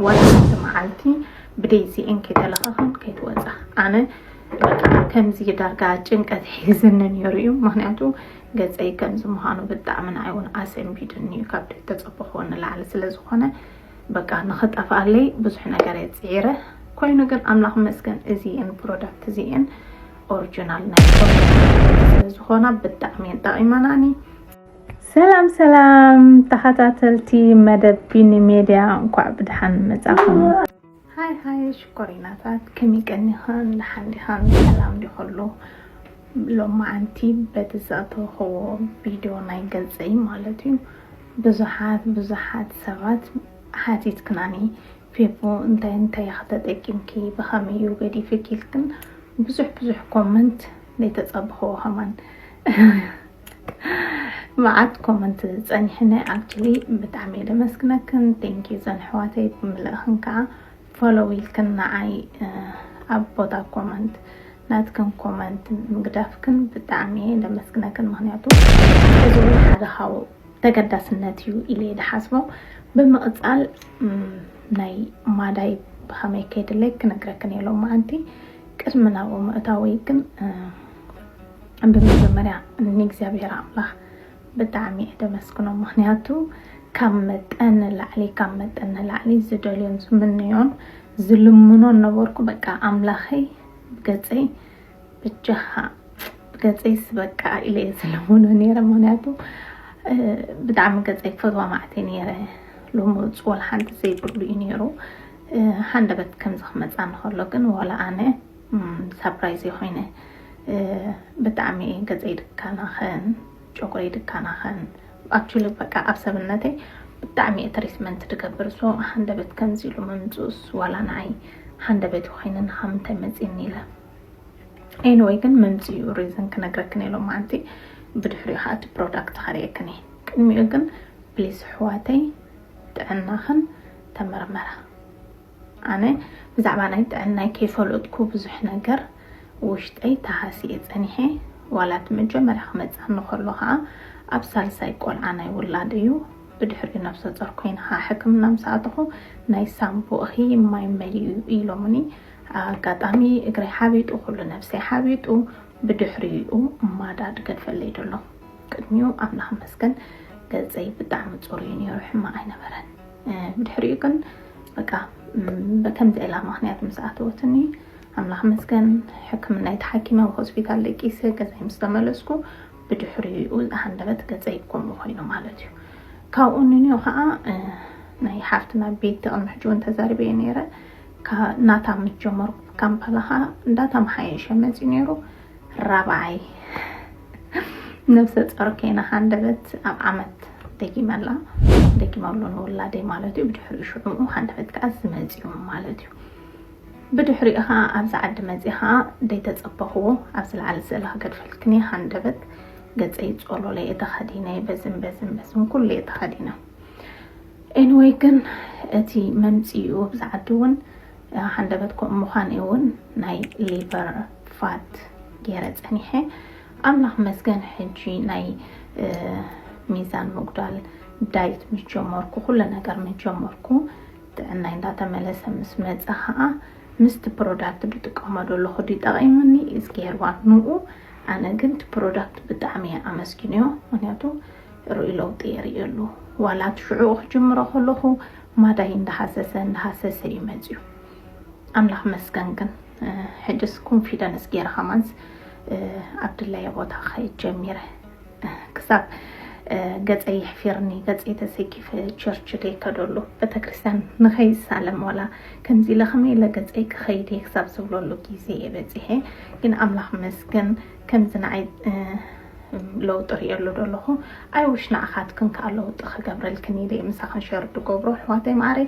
ዋላ ሓንቲ መዓልቲ ብደይዚኤን ከይተለኸኽን ከይትወፃ ኣነ ከምዚ ዳርጋ ጭንቀት ሒዝኒ ነይሩ እዩ ምክንያቱ ገፀይ ከምዚ ምዃኑ ብጣዕሚ ንዓይ እውን ኣሰንቢድኒ እዩ ካብ ድሕት ተፀበኽዎ ንላዕሊ ስለ ዝኾነ በቃ ንኽጠፍኣለይ ብዙሕ ነገር እየ ፅዒረ ኮይኑ ግን ኣምላኽ መስገን እዚኤን ፕሮዳክት እዚኤን ኦሪጂናል ናይ ዝኾና ብጣዕሚ እየን ጠቒመናኒ ሰላም ሰላም ተኸታተልቲ መደብ ቢኒ ሜድያ እንኳዕ ብድሓን መጻኹም። ሃይ ሃይ ሽኮሪናታት ከመይ ቀኒኻን ድሓን ዲኻን ሰላም ዲኸሉ ሎማዓንቲ በቲ ዘእተውኸዎ ቪድዮ ናይ ገልጸይ ማለት እዩ ብዙሓት ብዙሓት ሰባት ሓቲትክናኒ ፌቦ እንታይ እንታይ ከተጠቂምኪ ብኸመይ እዩ ገዲፍኪ ኢልክን ብዙሕ ብዙሕ ኮመንት ዘይተጸብኸዎ ከማን መዓት ኮመንት ጸኒሕኒ ኣክቹሊ ብጣዕሚ እየ ደመስግነክን ቴንኪዩ ዘን ኣሕዋተይ ብምልእኽን ከዓ ፎሎው ኢልክን ንዓይ ኣብ ቦታ ኮመንት ናትክን ኮመንት ምግዳፍክን ብጣዕሚ እየ ደመስግነክን ምክንያቱ እዚ እውን ሓደ ካብ ተገዳስነት እዩ ኢለ ዝሓስቦ ብምቕፃል ናይ ማዳይ ብኸመይ ከይድለይ ክነግረክን እየ ሎማዓንቲ ቅድሚ ናብኡ ምእታወይ ግን ብመጀመርያ ንእግዚኣብሔር ኣምላኽ ብጣዕሚ እየ ደመስግኖ ምክንያቱ ካብ መጠን ንላዕሊ ካብ መጠን ንላዕሊ ዝደልዮን ዝምንዮን ዝልምኖን ነበርኩ በቃ ኣምላኸይ ገፀይ ብጃኻ ገፀይ ስበቃ ኢለ እየ ዝልምኖ ነይረ ምክንያቱ ብጣዕሚ ገፀይ ፈትዋ ማዕተ ነይረ ሎሚ ፅወል ሓንቲ ዘይብሉ እዩ ነይሩ ሃንደበት ከምዚ ክመፃ ንከሎ ግን ዋላ ኣነ ሳፕራይዝ እየ ኮይነ ብጣዕሚ ገፀይ ድካናከን ጨጉረይ ድካናከን ኣክቹሊ በቃ ኣብ ሰብነተይ ብጣዕሚ እየ ትሪትመንት ድገብር ሶ ሃንደበት ከምዚ ኢሉ ምምፅኡስ ዋላ ንዓይ ሃንደበት እዩ ኮይኑ ንካ ምንታይ መፂኒ ኢለ ኤኒወይ ግን መምፅኡ ሪዝን ክነግረክን እየ ሎማዓንቲ ብድሕሪኡ ከዓ እቲ ፕሮዳክት ከርእየክን እየ ቅድሚኡ ግን ፕሊስ ኣሕዋተይ ጥዕናኽን ተመርመራ ኣነ ብዛዕባ ናይ ጥዕናይ ከይፈለጥኩ ብዙሕ ነገር ውሽጠይ ተሃስየ ጸኒሐ ዋላ እቲ መጀመርያ ክመጽኣኒ ከሎ ከኣ ኣብ ሳልሳይ ቆልዓ ናይ ውላድ እዩ ብድሕሪኡ ነብሰጾር ኮይነ ከኣ ሕክምና ምስ ኣተኹ ናይ ሳንቡእ እኺ ማይ መሊኡ እዩ ኢሎሙኒ ኣጋጣሚ እግረይ ሓቢጡ ኩሉ ነብሰይ ሓቢጡ ብድሕሪኡ ማዳ ድገድፈለይ ደሎ ቅድሚኡ ኣምላኽ መስገን ገጸይ ብጣዕሚ ጽሩይ እዩ ነይሩ ሕማቕ ኣይነበረን። ብድሕሪኡ ግን በቃ ከምዚ ዕላማ ምክንያት ምስ ኣተወትኒ ኣምላኽ መስገን ሕክምናይ ተሓኪመ ኣብ ሆስፒታል ደቂሰ ገዛይ ምስ ተመለስኩ ብድሕሪኡ ሃንደበት ገፀይ ከምኡ ኮይኑ ማለት እዩ ካብኡ ንንዮ ከዓ ናይ ሓፍትና ቤት ቅድሚ ሕጂ እውን ተዛሪበ ነይረ ናታ ምስ ጀመርኩ ካምፓላ ከዓ እንዳተመሓየሸ መፅዩ ነይሩ ራብዓይ ነብሰ ጾር ከይና ሃንደበት ኣብ ዓመት ደጊመላ ደጊመሉ ንውላደይ ማለት እዩ ብድሕሪኡ ሽዑኡ ሃንደበት ከዓ ዝመፅኡ ማለት እዩ ብድሕሪኡ ከዓ ኣብዚ ዓዲ መፂ ከዓ ደይተፀበኽዎ ኣብ ዝለዓለ ስእሊ ክገድፈልክኒ ሃንደበት ገፀይ ፆሎለይ እተኸዲነ በዝን በዝን በዝን ኩሉ እተኸዲነ ኤንወይ ግን እቲ መምፅኡ ኣብዚ ዓዲ እውን ሃንደበት ከምኡ ምዃን እውን ናይ ሊቨር ፋት ገይረ ፀኒሐ ኣምላክ መስገን ሕጂ ናይ ሚዛን ምጉዳል ዳይት ምስ ጀመርኩ ኩሉ ነገር ምስ ጀመርኩ ጥዕናይ እንዳተመለሰ ምስ መፀ ከዓ ምስቲ ፕሮዳክት ድጥቀሞ ዘለኹ ድዩ ጠቒሙኒ እዝጌርዋ ንኡ ኣነ ግን እቲ ፕሮዳክት ብጣዕሚ እየ ኣመስግንዮ ምክንያቱ ርኡይ ለውጢ የርእየሉ ዋላ እቲ ሽዑኡ ክጅምሮ ከለኹ ማዳይ እንዳሃሰሰ እንዳሃሰሰ እዩ መፅዩ ኣምላኽ መስገን ግን ሕጅስ ኮንፊደንስ ገይረ ከማንስ ኣብ ድላየ ቦታ ክኸይድ ጀሚረ ክሳብ ገፀ ይሕፊርኒ ገፀ ተሰኪፈ ቸርች ከይከደሉ ቤተክርስትያን ንኸይሳለም ዋላ ከምዚ ለኸመይ ለገፀይ ክኸይድ እየ ክሳብ ዝብለሉ ግዜ እየ በፂሐ ግን ኣምላኽ መስገን ከምዚ ንዓይ ለውጢ ርእየሉ ደለኹ ኣይውሽ ንኣኻትክን ከዓ ለውጢ ክገብረልክን ኢለ ምሳኽን ሸር ድገብሮ ኣሕዋተይ ማዕረይ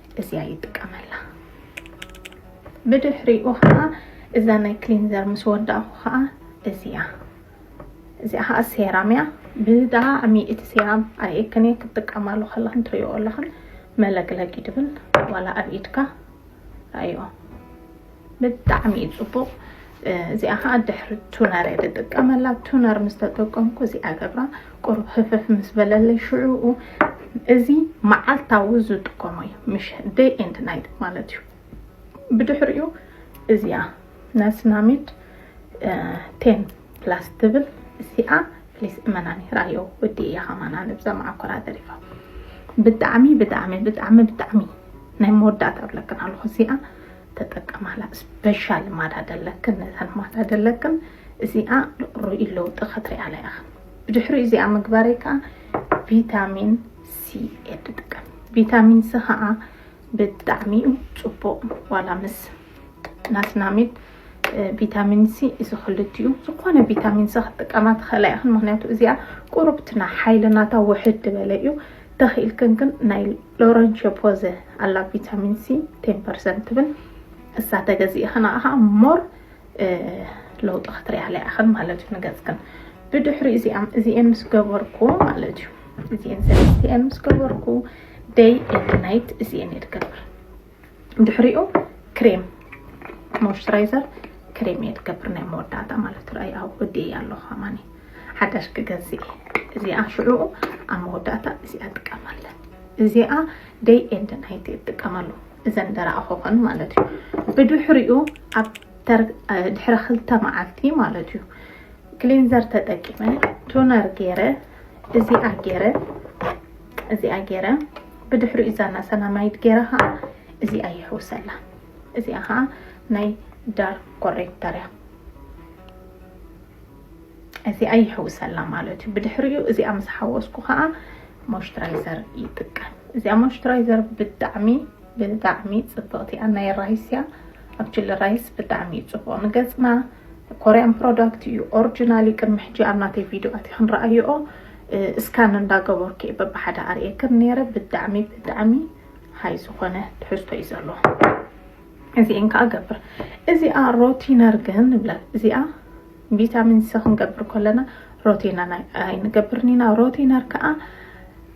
እዚኣ ይጥቀመላ ብድሕሪኡ ከዓ እዛ ናይ ክሊንዘር ምስ ወዳእኹ ከዓ እዚኣ እዚኣ ከዓ ሴራም እያ ብጣዕሚ እቲ ሴራም ኣየክን እየ ክትጥቀማሉ ከለኽን ትሪኦ ኣለኽን መለቅለቂ ትብል ዋላ ኣብ ኢድካ ኣዮ ብጣዕሚ እዩ ፅቡቅ እዚኣ ከዓ ድሕሪ ቱነር እየ ዝጥቀመላ ቱነር ምስ ተጠቀምኩ እዚኣ ገብራ ቁሩብ ህፍፍ ምስ በለለይ ሽዑኡ እዚ መዓልታዊ ዝጥቀሞ እዩ ምሽ ደይ ኤንድ ናይት ማለት እዩ ብድሕሪኡ እዚኣ ናስናሚድ ቴን ፕላስ ትብል እዚኣ ፕሊስ እመናኒ ራዮ ወዲ እያ ከማና ንብዛ መዓኮራ ተሪፋ ብጣዕሚ ብጣዕሚ ብጣዕሚ ብጣዕሚ ናይ መወዳእታ ብለክን ኣለኹ እዚኣ ተጠቀማላ ስፔሻል ማዳ ደለክን ነተን ማዳ ደለክን እዚኣ ርኡይ ለውጢ ከትሪኣላ ኢኽን ብድሕሪኡ እዚኣ ምግባረይ ከዓ ቪታሚን ሲ እየ ትጥቀም ቪታሚን ሲ ከዓ ብጣዕሚ እዩ ፅቡቅ ዋላ ምስ ናስናሚድ ቪታሚን ሲ እዚ ክልቲኡ ዝኾነ ቪታሚን ሲ ክትጥቀማ ትኽእላ ኢኽን ምክንያቱ እዚኣ ቁርብትና ሓይልናታ ውሕድ በለ እዩ ተኺኢልክን ግን ናይ ሎረንሾ ፖዘ ኣላ ቪታሚን ሲ ቴን ፐርሰንት ትብል እሳ ተገዚእኽን ኣኸዓ ሞር ለውጢ ክትሪኣለ ኢኽን ማለት እዩ ንገፅክን ብድሕሪ እዚኣም እዚኤን ምስ ገበርኩ ማለት እዩ እዚኤን ሰለስቲኤን ምስ ገበርኩ ደይ ኤንድ ናይት እዚኤን እየ ትገብር ድሕሪኡ ክሬም ሞይስቸራይዘር ክሬም እየ ትገብር ናይ መወዳእታ ማለት ርኣይ ኣብ ወዲ እያ ኣለኹ ኣማኒ ሓዳሽ ክገዝእ እዚኣ ሽዑኡ ኣብ መወዳእታ እዚኣ ጥቀማለን እዚኣ ደይ ኤንድ ናይቲ እጥቀመሉ እዘን ደረኣኹ ኾን ማለት እዩ ብድሕሪኡ ኣብ ድሕሪ ክልተ መዓልቲ ማለት እዩ ክሊንዘር ተጠቂመ ቶነር ገይረ እዚኣ ገይረ እዚኣ ገይረ ብድሕሪኡ ዛና ሰላማይት ገይረ ከዓ እዚኣ ይሕውሰላ እዚኣ ከዓ ናይ ዳር ኮሬክተር እያ እዚኣ ይሕውሰላ ማለት እዩ ብድሕሪኡ እዚኣ ምስ ሓወስኩ ከዓ ሞይስቸራይዘር ይጥቀም እዚኣ ሞይስቸራይዘር ብጣዕሚ ብጣዕሚ ጽብቅቲ ኣናይ ራይስ እያ ኣብ ችሊ ራይስ ብጣዕሚ እዩ ጽቡቅ ንገጽና ኮርያን ፕሮዳክት እዩ ኦርጅናል እዩ ቅድሚ ሕጂ ኣብ ናተይ ቪድዮ ኣቲክን ረኣይኦ እስካን እንዳገበርኩ እየ በብሓደ ኣርእየክን ነይረ ብጣዕሚ ብጣዕሚ ሃይ ዝኾነ ትሕዝቶ እዩ ዘለዎ እዚኤን ከዓ ገብር እዚኣ ሮቲነር ግን ንብላ እዚኣ ቪታሚን ሲ ክንገብር ከለና ሮቲነር ኣይንገብርን ኢና ሮቲነር ከዓ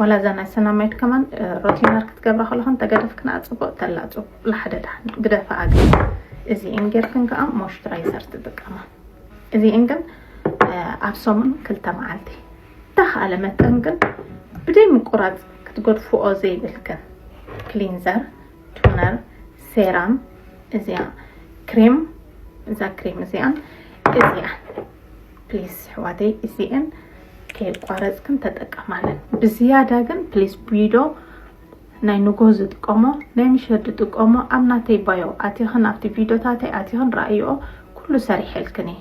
ዋላ እዛ ናይ ሰላማዊት ከማን ሮቲነር ክትገብራ ከለኹ እንተገደፍክና ፅቡቅ ተላ ፅቡቅ ሓደ ዳሕን ግደፋ ኣግል እዚኤን ጌርክን ከዓ ሞይስቸራይዘር ትጥቀማ እዚኤን ግን ኣብ ሰሙን ክልተ መዓልቲ ተኸኣለ መጠን ግን ብደይ ምቁራፅ ክትገድፍኦ ዘይብል ግን ክሊንዘር ቱነር ሴራም እዚኣ ክሬም እዛ ክሬም እዚኣን እዚኣ ፕሊስ ኣሕዋተይ እዚኤን ከየቋረፅክን ተጠቀማለን ብዝያዳ ግን ፕሊስ ቢዶ ናይ ንጎ ዝጥቀሞ ናይ ምሸት ዝጥቀሞ ኣብ ናተይ ባዮ ኣቲኽን ኣብቲ ቪዲዮታተይ ኣቲኽን ረኣይኦ ኩሉ ሰሪሐልክን እየ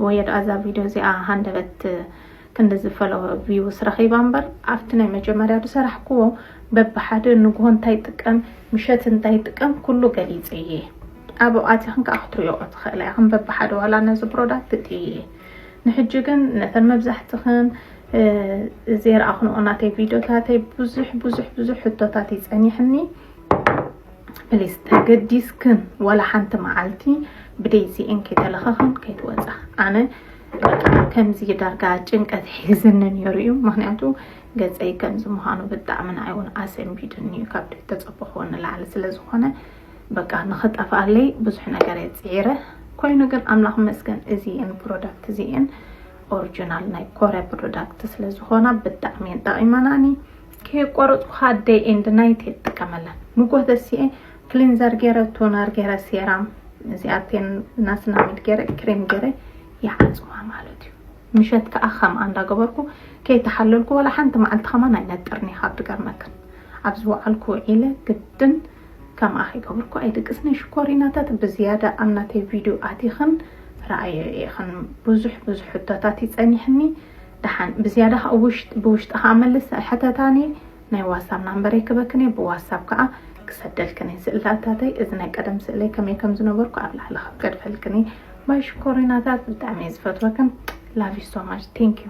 ወይ ደኣ እዛ ቪዲዮ እዚኣ ሃንደበት ክንዲ ዝፈለወ ቪውስ ረኺባ እምበር ኣብቲ ናይ መጀመርያ ዝሰራሕክዎ በብሓደ ንግሆ እንታይ ጥቀም ምሸት እንታይ ጥቀም ኩሉ ገሊፀ እየ ኣብኡ ኣቲኽን ከኣ ክትሪኦኦ ትኽእላ ኢኽን በብሓደ ዋላ ነዚ ብሮዳት ትጥይዪ ንሕጂ ግን ነተን መብዛሕትኽን ዘይረኣኽንኦ ናተይ ቪድዮታተይ ብዙሕ ብዙሕ ብዙሕ ሕቶታት እዩ ጸኒሕኒ ፕሊስ ተገዲስክን ዋላ ሓንቲ መዓልቲ ብደይዚኤን ከይተለኸኽን ከይትወጻ ኣነ ከምዚ ዳርጋ ጭንቀት ሒዝኒ ነይሩ እዩ ምክንያቱ ገፀይ ከምዚ ምዃኑ ብጣዕሚ ንኣይ እውን ኣሰንቢድኒ እዩ ካብ ተፀበኹዎ ንላዕሊ ስለ ዝኾነ በቃ ንኽጠፍኣለይ ብዙሕ ነገር እየ ፅዒረ ኮይኑ ግን ኣምላኽ ይመስገን እዚኤን ፕሮዳክት እዚኤን ኦሪጂናል ናይ ኮርያ ፕሮዳክት ስለ ዝኾና ብጣዕሚ እየን ጠቒመናኒ ከየቋረፅኩ ከዓ ደይ ኤንድ ናይት እየ ትጥቀመለን ንጎህ ተሲኤ ክሊንዘር ገይረ ቶነር ገይረ ሴራም እዚኣቴን ናስናሚድ ገይረ ክሬም ገይረ ይሓፅዋ ማለት እዩ ምሸት ከዓ ከምኣ እንዳገበርኩ ከይተሓለልኩ ዋላ ሓንቲ መዓልቲ ከማን ኣይነጥርን እየ ካብ ድገርመክን ኣብ ዝወዓልኩ ውዒለ ግድን ከምኣ ከይገብርኩ ኣይድቅስን'የ ሽኮሪናታት ብዝያዳ ኣብ ናተይ ቪድዮ ኣቲኽን ረኣየዮ ኢኽን ብዙሕ ብዙሕ ሕቶታት እዩ ጸኒሕኒ ደሓን ብዝያዳ ከኣ ውሽጥ ብውሽጢ ከኣ መልስ ኣይሕተታን'የ ናይ ዋትሳብ ናምበረይ ክበክን'የ ብዋትሳብ ከኣ ክሰደልክን'የ ስእልታታተይ እዚ ናይ ቀደም ስእለይ ከመይ ከም ዝነበርኩ ኣብ ላዕሊ ክገድፈልክን'የ ባይ ሽኮሪናታት ብጣዕሚ'የ ዝፈትወክን love you so much thank you